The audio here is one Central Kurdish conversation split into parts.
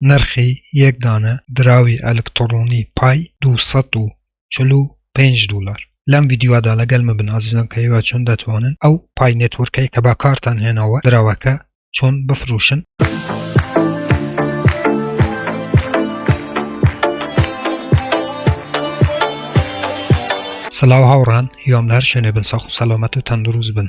نرخی یەک دانە دراوی ئەلکتڕونی پای دوو سەد و چل و پێنج دولار. لەم ڤیدیۆدا لەگەلم بن ئازیزان کە ئێوە چۆن دەتوانن ئەو پای نێتوورکەی کە باکارتان هێناوە دراوەکە چۆن بفروشن. سلاو هاوڕان هیوام لە هەر شوێنێ بن ساخ و سەلامەت و تەندروست بن.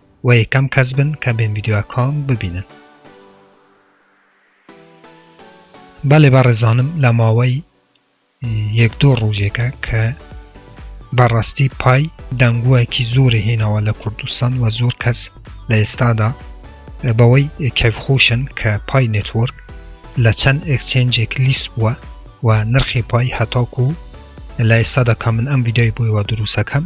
و یەکەم کەس بن کە بێم ڤیدیۆ کۆم ببینن. بەێ بەڕێزانم لە ماوەی یەک دوو ڕوژێکە کە بەڕاستی پای دەنگووەکی زۆری هێناوە لە کوردستان و زۆر کەس لە ئێستادا بەوەی کەفخۆشن کە پای نێتۆرک لە چەند ئەکسچێنجێک لیست بووە و نرخی پای هەتاکو لە ئێستادا کە من ئەم ویدای بوویوە دروستەکەم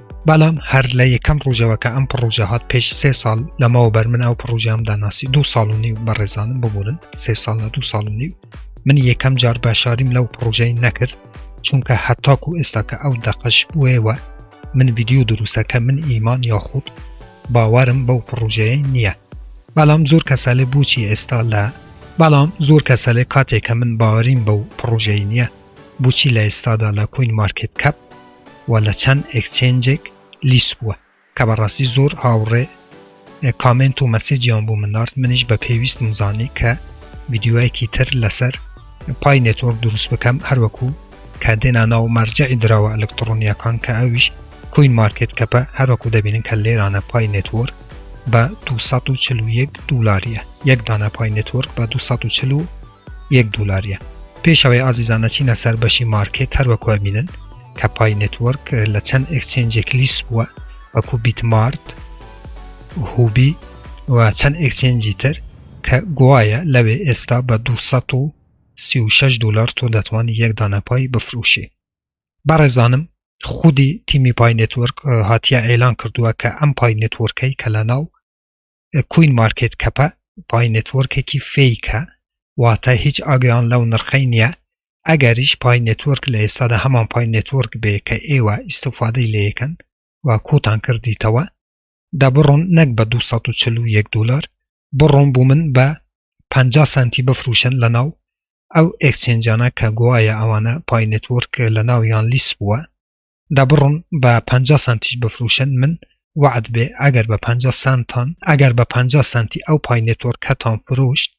بەڵام هەر لە یەکەم ڕوژەوەکە ئەم پڕۆژە هاات پێش سێ ساڵ لەمەوە بەر من ئەو پڕۆژام داناسی دو ساڵ و نیو بە ڕێزانم ببوورن سێ ساڵ لە دو ساڵ و نیو من یەکەم جار باشاریم لەو پڕۆژەی نەکرد چونکە هەتاکو و ئێستاکە ئەو دەقەش بووەوە من ویددیو دروستەکە من ئیمان یاخود باوارم بەو پڕۆژەیە نییە بەڵام زۆر کەسەلێ بچی ئێستا لە بەڵام زۆر کەسەلێ کاتێکە من باوەریم بەو پڕۆژەی نییە بچی لە ئێستادا لە کوین مارکت کەپ و لە چەند ئێکچێنجێک لیست بووە کە بەڕاستی زۆر هاوڕێ کامێنت و مەسێجیان بۆ من نارد منیش بە پێویستم زانی کە ڤیدیۆیەکی تر لەسەر پای نێتۆرک دروست بکەم هەروەکو کە دێنا ناو مەرجعی دراوە ئەلکترۆنیەکان کە ئەویش کوین مارکت کەپە هەروەکو دەبینن کە لێرانە پای نێتۆرک بە 241 دولاریە یەک دانە پای نێتۆرک بە 240 یەک دولاریە. پێش ئەوەی ئازیزان ئەچینە سەر بەشی مارکێت هەر وەکو ئەبینن کە پای نێتوەرک لە چەند ئێکسچێنجێک لیست بووە وەکو بیتمارت هوبی و چەند ئێکسچێنجی تر کە گوایە لەوێ ئێستا بە 236 دلار تۆ دەتوانی یەک دانە پای بفروشی بەڕێزانم خودی تیمی پای نێتوەرک هاتیە ئێلان کردووە کە ئەم پای نێتوەرکەی کە لە ناو کوین مارکێت کەپە پای نێتوەرکێکی فەیکە واتە هیچ ئاگیان لەو نرخەی نییە ئەگەریش پای نێتوەرک لە ئێستادا هەمان پای نێتوەرک بێ کە ئێوە ئیسفادەی لەکەن و کۆتان کردیتەوە دە بڕۆن نەک بە 241 دلار بڕۆن بوو من بە 50 سنتی بفروشن لە ناو ئەو ئەکسچێنجانە کە گوایە ئەوانە پای نێتوەرک لە ناویان لیس بووە دەبڕن بە پ سانتیش بفروشن من وعد بێ ئەگەر بە پ سانتان ئەگەر بە پ سانتی ئەو پای نێتۆرکەتان فرۆشت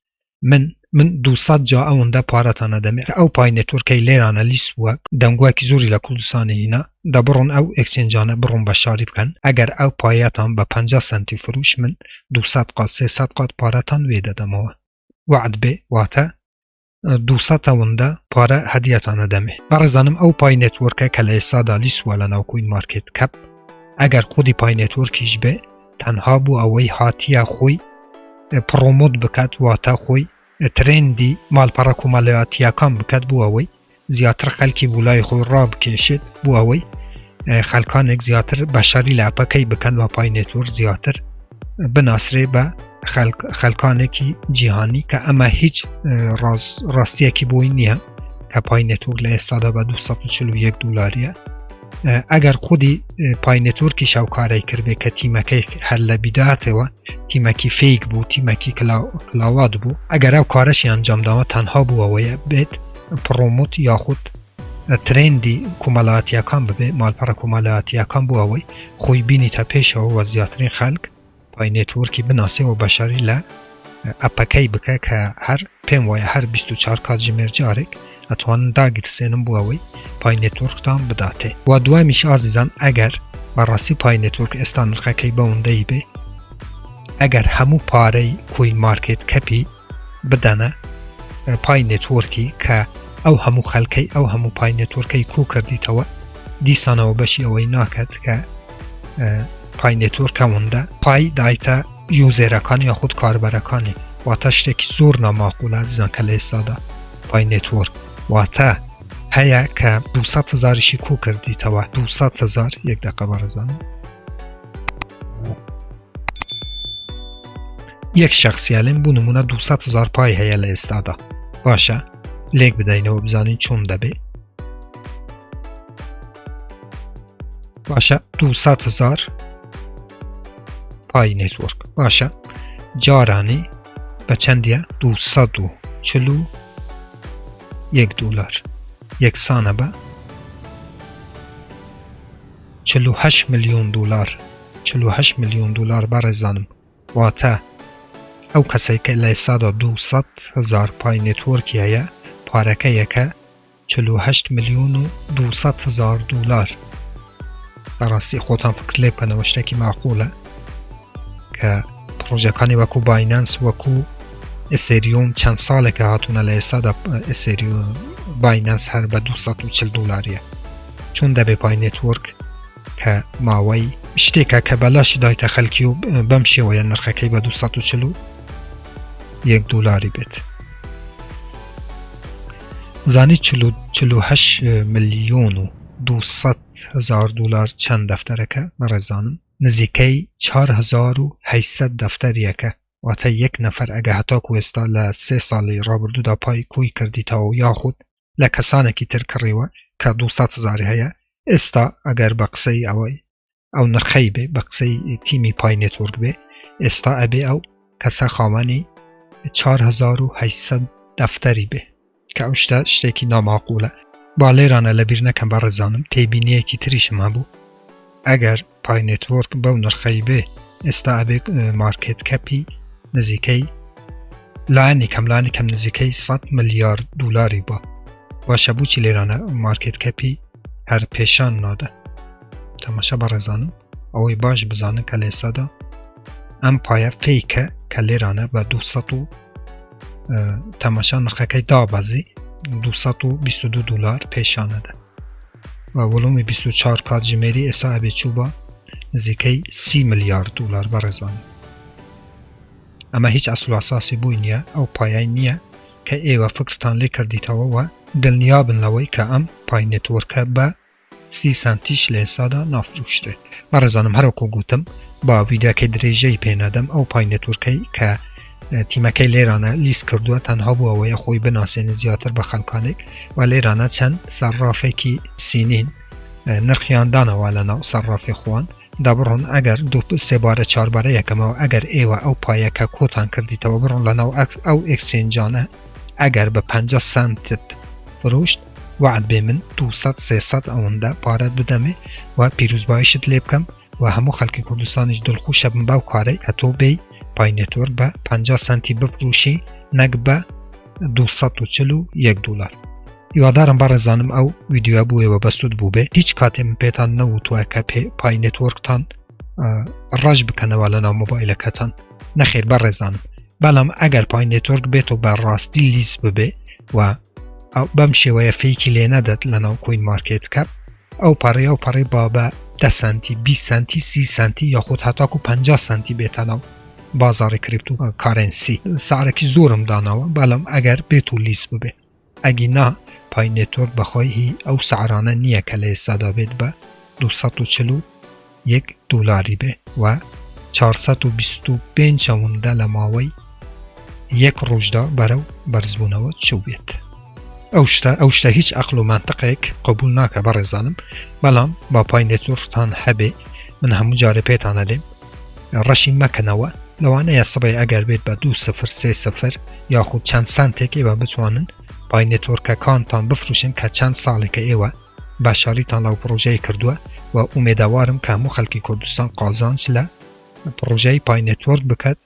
من من دوسەد جا ئەوەندە پارەتانە دەمێ ئەو پای نێتۆرکەی لێرانە لیس وە دەنگواکی زۆری لە کوردستانی هینا دەبڕن ئەو ئەکسنجانە بڕۆن بە شاری بکەن ئەگەر ئەو پایەتان بە پ سانتی فروش من دوسەد قات سێسەد قات پارەتان وێ دەدەمەوە وعد بێ واتە دوسە تەوەندە پارە هەدیەتانە دەمێ بەڕێزانم ئەو پای نێتوەرکە کە لە ئێسادا لیسوە لە ناوکوین مارکت کەپ ئەگەر خودی پای نێتوەرکیش بێ تەنها بوو ئەوەی هاتیە خۆی پڕۆمۆت بکات واتە خۆی ترندی مالپەڕە کۆمەلاتیەکان بکات بوو ئەوەی زیاتر خەلکی بولای خۆی ڕابکێشێت بوو ئەوەی خەلکانێک زیاتر بەشاری لاپەکەی بکەن و پای نێتوەر زیاتر بناسرێ بە خەلکانێکی جیهانی کە ئەمە هیچ ڕاستیەکی بۆی نییە کە پای نەتۆک لە ئێستادا بە 241 دلاریە ئەگەر خودی پای نەتۆرکی شاوکارای کردێ کە تیمەکەی هەر لە بیداتەوە تیمەکی فیک بوو تیمەکی کلااوات بوو ئەگەر ئەو کارەشی ئەنجامداوە تەنها بووەوەیە بێت پڕۆموت یاخود ترێندی کومەلاتیەکان ببێ مالپەڕە کومەلاتیەکان بۆ ئەوەی خۆی بینیتە پێشەوە وە زیاترین خەلک پای نێتوەرکی بناسێ وە بەشاری لە ئەپەکەی بکە کە هەر پێم وایە هەر 24 کات ژمێر جارێک ئەتوانن داگیرسێنم بۆ ئەوەی پای نێتوەرکتان بداتێ وە دوامیش ئازیزان ئەگەر بەڕاستی پای نێتوەرک ئێستا نرخەکەی بەوندەی بێ ئەگەر هەموو پارەی کوین مارکێت کەپی بدەنە پای نێتوۆرکی کە ئەو هەموو خەلکەی ئەو هەموو پای نێتوەرکەی کو کردیتەوە دیسانەوە بەشی ئەوەی ناکات کە پای نێتوەرکە وندە پای دایتە یوزێرەکان یا خود کاربەرەکانی واتە شتێکی زۆر ناماقولە زیان کە لە ئێستادا پای نێتوەرک واتە هەیە کە 200 هزاریشی کو کردیتەوە 200 هزار یەک دقە بەڕزانم یەک شخصیالم بوو نمونە 200 هزار پای هەیە لە ئێستادا باشە لێک بدەینەوە بزانین چۆن دەبێ باشە 200 هزار پای نێتوەرک باشە جارانی بە چەندە 240 یەک دلار یەکسانە بە چل و هەشت ملیۆن دولار چل و هەشت ملیۆن دولار بەڕێزانم واتە ئەو کەسەی کە لە ئێستادا دوو سەد هەزار پای نێتۆرکی هەیە پارەکەیەکە چل و هەشت ملیۆن و دوو سەد هەزار دولار بەڕاستی خۆتان فکر لێ بکەنەوە شتێکی ماقولە کە پرۆژەکانی وەکو باینەنس وەکو ئسریۆم چەند ساڵێکە هاتوونە لە ئێستادا ئسریۆ باینەنس هەر بە 240 دلاریە چۆن دەبێ پای نێتوەرک کە ماوەی شتێکە کە بەلاشی دایتە خەلکی و بەم شێوەیە نرخەکەی بە 240 و یەک دلاری بێت زانی 48 میلیۆن و 200 هزار دلار چەند دەفتەرەکە بەڕێزانم نزیکەی 4800 دەفتەریەکە واتە یەک نەفەر ئەگە هەتاکو ئێستا لە سێ ساڵی ڕابردوودا پای کۆی کردیتەوە یاخود لە کەسانێکی تر کڕیوە کە دو سەد هەزاری هەیە ئێستا ئەگەر بە قسەی ئەوەی ئەو نرخەی بێ بە قسەی تیمی پای نێتۆرگ بێ ئێستا ئەبێ ئەو کەسە خاوەنی 1970 دەفتەری بێ کە ئەو شتە شتێکی ناماقولە با لێرانە لە بیر نەکەم بە ڕێزانم تێبینیەکی تریشم هەبوو ئەگەر پای نێتۆرک بەو نرخەی بێ ئێستا ئەبێت مارکێت کەپی نزیکەی لایانی کەملانی کەم نزیکەی 100 ملیارد دلاری بە باشە بچی لێرانە مارکێت کەپی هەر پێشان نادە تەماشا بەڕێزانم ئەوەی باش بزانن کە لێسادا ئەم پایە فیکە کە لێرانە بە 200 و تەماشا نرخەکەی دابەزی 222 دلار پێشانەدە و وڵومی بیست و چوار کاتژمێری ئێستا ئەبێ چووبا نزیکەی سی ملیار دولار بەڕێزان ئەمە هیچ ئەسلاساسی بووی نییە ئەو پایای نییە کە ئێوە فکرتان لێ کردیتەوە وە دڵنیابن لەوەی کە ئەم پای نێتوەرکە بە سی سانتیش لە ئێستادا نافروشرێت بەڕێزانم هەروەکو گوتم با ویداکە درێژەی پێنادەم ئەو پای نێتوەرکەی کە تیمەکەی لێرانە لیست کردووە تەنها بووە ئەوەیە خۆی بناسێنە زیاتر بە خەلکانێک و لێرانە چەند سەرڕافێکی سینین نرخیاندانەوە لە ناو سەرڕافی خوان دەبڕۆن ئەگەر دو سێبارە چاربارە یەکەمەوە ئەگەر ئێوە ئەو پایەکە کۆتان کردیتەوە بڕۆن لە ناو ئەو ئەکسچێنجانە ئەگەر بە 5 سنتت فرۆشت وعد بێ من 200 سێسەد ئەوەندە پارەت بدەمێ و پیرروزبایشت لێ بکەم و هەموو خەلکی کوردستانیش دلخوشە بم بەو کارەی ئەتۆ بێی پای نێتۆرک بە پەنجا سەنتی بفروشی نەک بە دوو سەد و چل و یەک دولار هیوادارم بەڕێزانم ئەو ویدیوە بووێ بە بەسود بوو بێ هیچ کاتێ من پێتان نەوتوە کە پێ پای نێتۆرکتان ڕەش بکەنەوە لە ناو مۆبایلەکەتان نەخێر بەڕێزانم بەڵام ئەگەر پای نێتۆرک بێت و بە ڕاستی لیست ببێ و ئەو بەم شێوەیە فیکی لێ نەدەت لە ناو کۆین مارکێت کە ئەو پەڕی ئەو پەڕی بابە دە سانتی 20 سانتی سی سانتی یاخود هاتاکو 50 سانتی بێتە ناو بازاری کریپت و کارنسی سعرەکی زۆرم داناوە بەڵام ئەگەر بێت و لیس ببێ ئەگی نا پای نێتۆر بەخۆی هی ئەو سعرانە نییە کە لە ئێستادا بێت بە 240 یەک دولاری بێ و چار سەد و بیست و پێنج ئەوندە لە ماوەی یەک ڕوژدا بەرەو بەرزبونەوە چوبێت ئەو شتە ئەو شتە هیچ ئەقل و مەنتقێک قبول ناکە بەڕێزانم بەڵام با پای نێتورتان هەبێ من هەموو جارە پێتانە لێم ڕەشی مەکەنەوە لەوانەیە سبەی ئەگەر بێت بە دوو سفر سێ سفر یاخود چەند سانتێک ئێوە بتوانن پای نێتۆرکەکانتان بفروشن کە چەند ساڵێکە ئێوە باشاریتان لە و پڕۆژەیە کردووە و ئومێدەوارم کە هەموو خەلکی کوردستان قازانج لە پڕۆژەی پای نێتۆرک بکات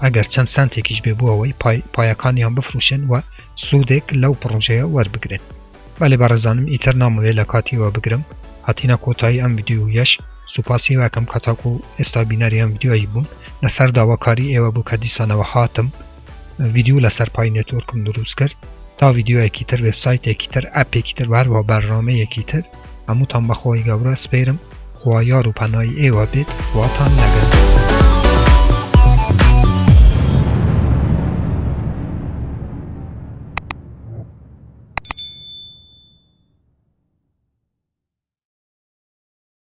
ئەگەر چەند سانتێکیش بێ بۆ ئەوەی پایەکانیان بفروشن و سوودێک لەو پڕۆژەیە وەربگرن بەێ بەڕێزانم ئیتر نامەوێت لە کاتیوە بگرم هاتینا کۆتایی ئەم ویددیو یش سوپاسی واکەم کەتاکو ئێستا بینەری ئەم ویددیوایی بوون لەسەر داواکاری ئێوە بوو کە دیسانەوە هاتم ڤیدیو لەسەر پای نێتۆرکم دروست کرد تا ڤیددیوەکی تر وبسایتێکی تر ئەپێکی تر بارەوە بەرنامەیەکی تر هەمووتان بەخۆی گەورە سپێرم خوا یار و پەنای ئێوە بێت خواتان لەگەن.